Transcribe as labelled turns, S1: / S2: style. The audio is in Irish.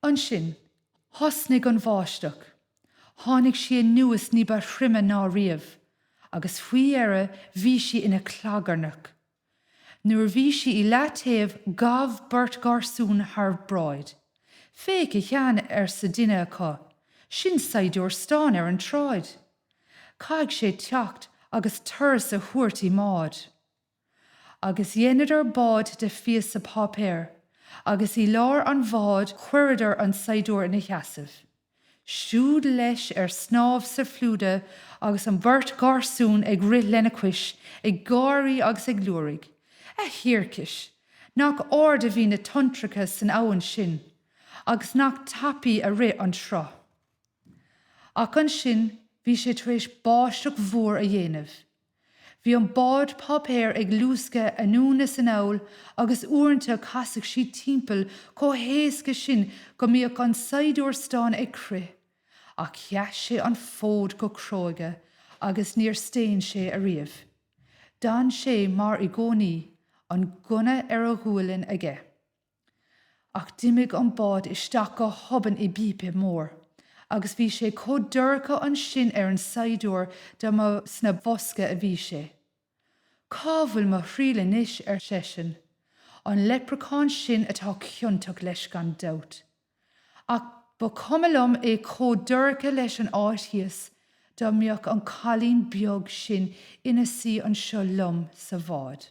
S1: Ansin, thosnaigh an bháisteach. Tháinig sí anuas ní ba throime ná riamh, agus faoi dheireadh bhí sí ina clagarnach. Nuair a bhí sí i leataobh ghabh beirt gharsún thar bráid. Féach, a Sheáin, arsa duine acu, sin saighdiúir stáin ar an tsráid. Caithfidh sé teacht agus turas a thabhairt i mbád. agus dheineadar bád de phíosa páipéir agus i lár an bháid chuireadar an saighdiúir ina sheasamh. Siúd leis ar snámh sa phluda agus an bheirt gharsún ag rith lena chois ag gáirí agus ag liúraigh. A thiarcais! Nach ard a bhí na tonntracha san abhainn sin agus nach tapaidh a rith an sruth. Ach ansin bhí sé tar éis báisteach mhór a dhéanamh. Bhí an bád páipéir ag luascadh anonn is anall agus uaireanta casadh sí timpeall chomh héasca sin go mbíodh an saighdiúir stáin ag crith. Ach sheas sé an fód go cróga agus níor staon sé riamh. D'fhan sé, mar i gcónaí, an gunna ar a ghualainn aige. Ach d'imigh an bád isteach go hobann i bpípe mór agus bhí sé chomh dorcha ansin ar an saighdiúir dá mba sa bhosca a bhí sé. Cá bhfuil mo thriall anois, ar seisean. An leipreachán sin atá ciontach leis gan dabht. Ach ba chuma liom é chomh dorcha leis an áit thíos dá mbeadh an cailín beag sin ina suí anseo liom sa bhád.